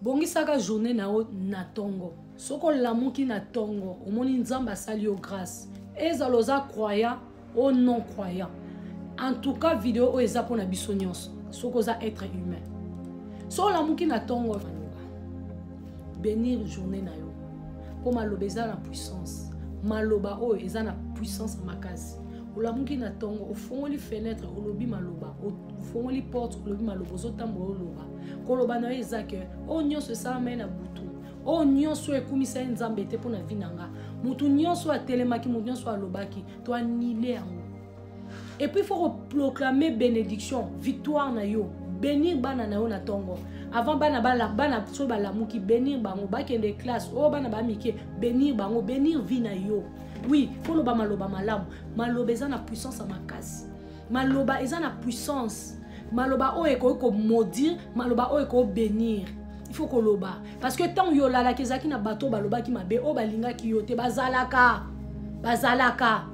bongisaka journée na yo na ntongo soki olamuki na ntongo omoni nzambe asali yo grâce ezala oza croyant o non croyant en tout cas video oyo eza mpona biso nyonso soki oza être humain so olamuki na ntongo benir journée na yo mpo maloba eza na puissance maloba oyo eza na puissance makasi olamuki na ntongo ofongoli fenêtre olobi maloba ofongoli porte olobi maloba ozotambola oloba koloba na yo eza ke oyo nyonso esalama ye na butu oyo nyonso oyo ekumisa ye nzambe te mpo na vi na nga motu nyonso oyo atelemaki motu nyonso oyo alobaki to anile yango epuis fo koproclame bénédiction victoire na yo benir bana na yo na ntongo avant bana bana soki balamuki benir bango bakende classe oyo oh, bana bamike benir bango benir vie na yo oui fo loba maloba malamu maloba eza na puissance ya makasi maloba eza na puissance maloba oyo ekoki komaudire maloba oyo ekoki benir il faut koloba parce que ntango yo olalaki ezalaki na bato oyo balobaki mabe oyo balingaki yo te bazalaka bazalaka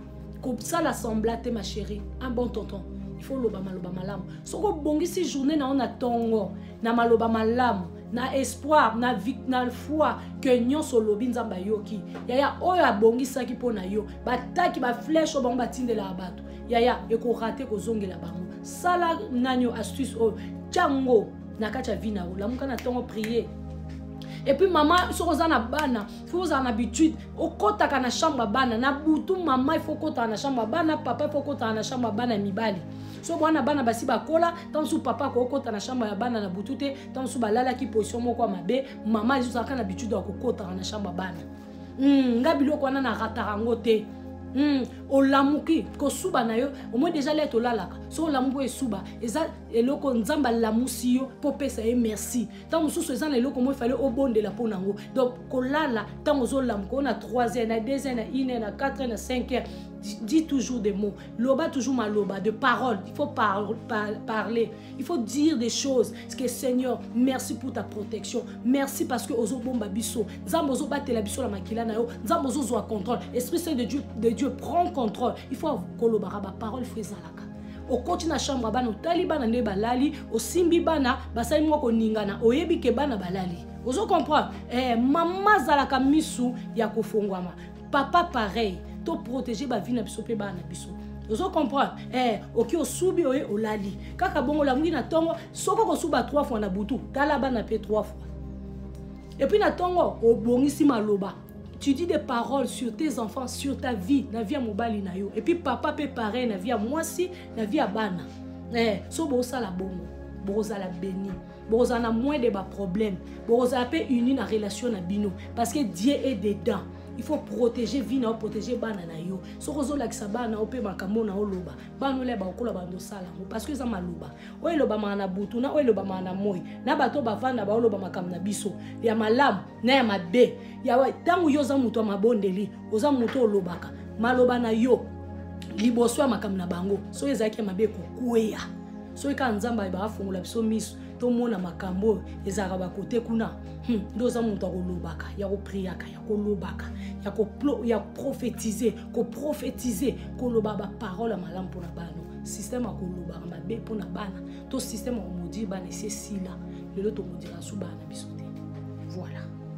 kosala sembla te ma chérie un bon tonton il faut oloba maloba malamu soki obongisi journée na yo na ntongo na maloba malamu na espoir na, na foi ke nyonso olobi nzambe ayoki yaya oyo abongisaki mpo na yo bataki bafleshe oyo bango batindelaka bato yaya ekorate kozongela bango sala nani oyo astuce oyo tyango na kati ya vi na yo lamuka na ntongo prier epuis mama soki oza na bana fo ozala na habitude okɔtaka na chambre ya bana na butu mama ifo okɔtaka na chambre ya bana papa ifo okɔtaka na chambre ya bana ya mibali so bwana bana basi bakola ntango mosusu papa akokota na chambre ya bana na butu te ntango mosusu balalaki position moko ya mabe mama ezozalaka na habitude ya kokotaka na chambre ya bana mm, nga biloko wana na rataka yango te mm, olamuki kosuba na yo omoi deja lete olalaka so olamuki esuba eza eloko nzambe alamusi yo mpo opesa ye merci ntango mosusu eza na eloko moko efale obondela mpo na yango donc kolala ntango ozolamuka oyo na 3 heures na 2 heures na 1 heure na 4 heures na 5 heures dit toujours des mots loba toujours maloba de parole il faut par, par, parler Il faut dire des choses. Ce que Seigneur, merci pour ta protection. Merci parce que ozo bomba biso. Nzambe ozo batela biso la makila na yo. Nzambe ozo zo contrôle. Esprit Saint de Dieu, de Dieu prend contrôle. Il faut kolobara ba parole fezalaka. okoti na chambre bana otali bana nde balali osimbi bana basali mwa koningana oyebi ke bana balali ozo comprendre eh, mama azalaka misu ya kofongwama papa pareil to protege bavi na biso mpe bana na biso ozo comprendre eh, oki osubi oye olali kaka bongo olamuki na ntongo soki okosuba 3 fois na butu tala bana mpe 3 fois epuis na ntongo obongisi maloba tu dis des paroles sur tes enfants sur ta vie na vie ya mobali na yo epuis papa mpe pareil na vie ya mwasi na vie ya bana eh, so bosala bongo bokozala beni bokozala na moins de baproblème bokozala mpe uni na relation na bino parce que dieu est dedans il faut protéger vie na yo protéger bana na yo soki ozolakisa bana yo mpe makambo na oloba bana olia bakokola bando osala yango parce que eza maloba oyo elobamaka na butu na oyo elobamaka na moi na bato bavanda baoloba makambo na biso ya malamu na ya mabe ya ntango yo oza moto ya mabondeli oza moto olobaka maloba na yo liboso ya makambo na bango soki ezalaki ya mabe kokweya soki kaka nzambe ayeba afongola biso miso tomona makambo oyo ezalaka bakote kuna hmm, nde oza moto ya kolobaka ya kopriaka ya kolobaka ya profetize koprofetize koloba baparole ya malamu mpo na bana système ya kolobaka mabe mpo na bana to système ya komodire bana esi esila lelo tokodira nsu bana biso te voilà